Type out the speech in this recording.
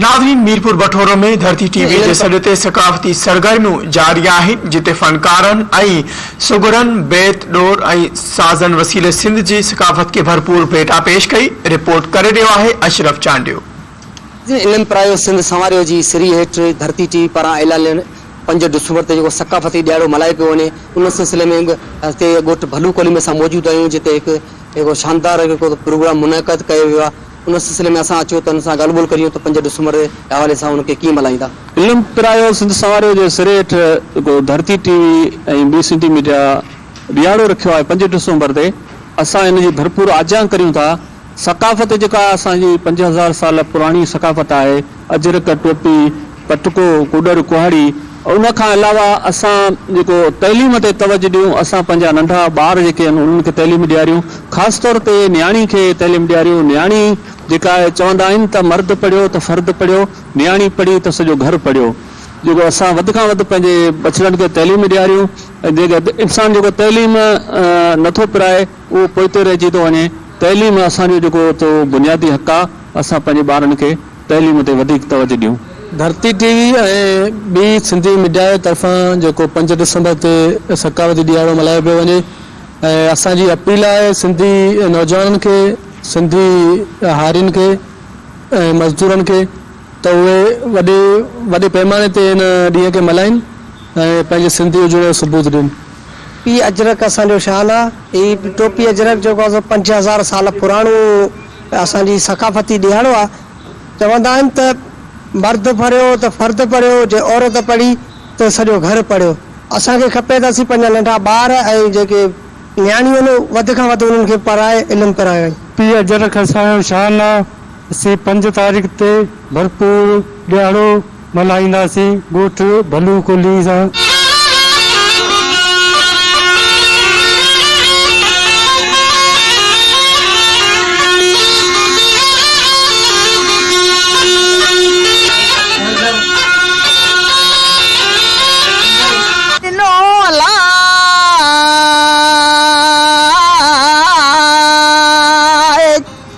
ناظرين ميرپور بٺورو ۾ ڌرتي ٽي وي جي سڏ تي ثقافتي سرگرميون جاري آهن جتي فنڪارن ۽ سگهڙن بيت ڏور ۽ سازن وسيلي سنڌ جي ثقافت کي ڀرپور ڀيٽا پيش ڪئي رپورٽ ڪري رهيو آهي اشرف چانڊيو. ناظرين علم پرايو سنڌ سنواريو جي سري هيٺ ڌرتي ٽي وي پاران اعلانيل پنج ڊسمبر تي جيڪو ثقافتي ڏهاڙو ملهايو پيو وڃي ان سلسلي ۾ به هتي ڳوٺ ڀلو ڪولهي ۾ اسان موجود آهيون جتي هڪ شاندار پروگرام منعقد ڪيو ويو آهي ان سلسلي ۾ اسان اچو ته ان سان ڳالهه ٻولهه ڪريون ته پنج ڊسمبر جي حوالي سان ان کي ڪيئن ملهائيندا. علم پرايو سنڌ سنواريو جي سري هيٺ جيڪو ڌرتي ٽي وي ۽ ٻي سنڌي ميڊيا ڏيهاڙو رکيو آهي پنج ڊسمبر تي اسان ان جي ڀرپور آجيان ڪريون ٿا ثقافت جيڪا اسان جي پنج هزار سال پراڻي ثقافت آهي اجرڪ، ٽوپي، پٽڪو، ڪوڏر، ڪهاڙي ۽ ان کان علاوه اسان جيڪو تعليم تي توجه ڏيون، اسان پنهنجا ننڍا ٻار جيڪي آهن انهن کي تعليم ڏياريون، خاص طور تي نياڻي کي تعليم ڏياريون، نياڻي جيڪا آهي چوندا آهن ته مرد پڙهيو ته فرد پڙهيو، نياڻي پڙهي ته سڄو گهر پڙهيو، جيڪو اسان وڌ کان وڌ پنهنجي ٻچڙن کي تعليم ڏياريون ۽ جيڪو انسان جيڪو تعليم نٿو پرائي. اهو پوئتي رهجي ٿو وڃي. تعليم اسان جو جيڪو اهو بنيادي حق آهي، اسان پنهنجي ٻارن کي تعليم تي وڌيڪ توجه ڏيون. ڌرتي ٽي وي ۽ ٻي سنڌي ميڊيا جي طرفان جيڪو پنج ڊسمبر تي ثقافتي ڏهاڙو ملهايو پيو وڃي ۽ اسان جي اپيل آهي سنڌي نوجوانن کي، سنڌي هارين کي ۽ مزدورن کي ته اهي وڏي وڏي پيماني تي ان ڏينهن کي ملهائين ۽ پنهنجي سنڌي هجڻ جو ثبوت ڏين. ٽوپي اجرڪ اسان جو شان آ. هي ٽوپي اجرڪ جيڪو آ سو پنج هزار سال پراڻو اسان جي ثقافتي ڏيهاڙو آ. چوندا آهن ته مرد پريو ته فرد پريو جي عورت پڙهي ته سڄو گهر پڙهيو. اسان کي کپي ته اسين پنهنجا ننڍا ٻار ۽ جيڪي نياڻيون آهن وڌ کان وڌ انهن کي پڙهائي علم پرايون. ٽوپي اجرڪ اسان جو شان آ. اسين پنج تاريخ تي ڀرپور ڏيهاڙو. ملهائينداسين ڳوٺ ڀلو ڪلهي سان.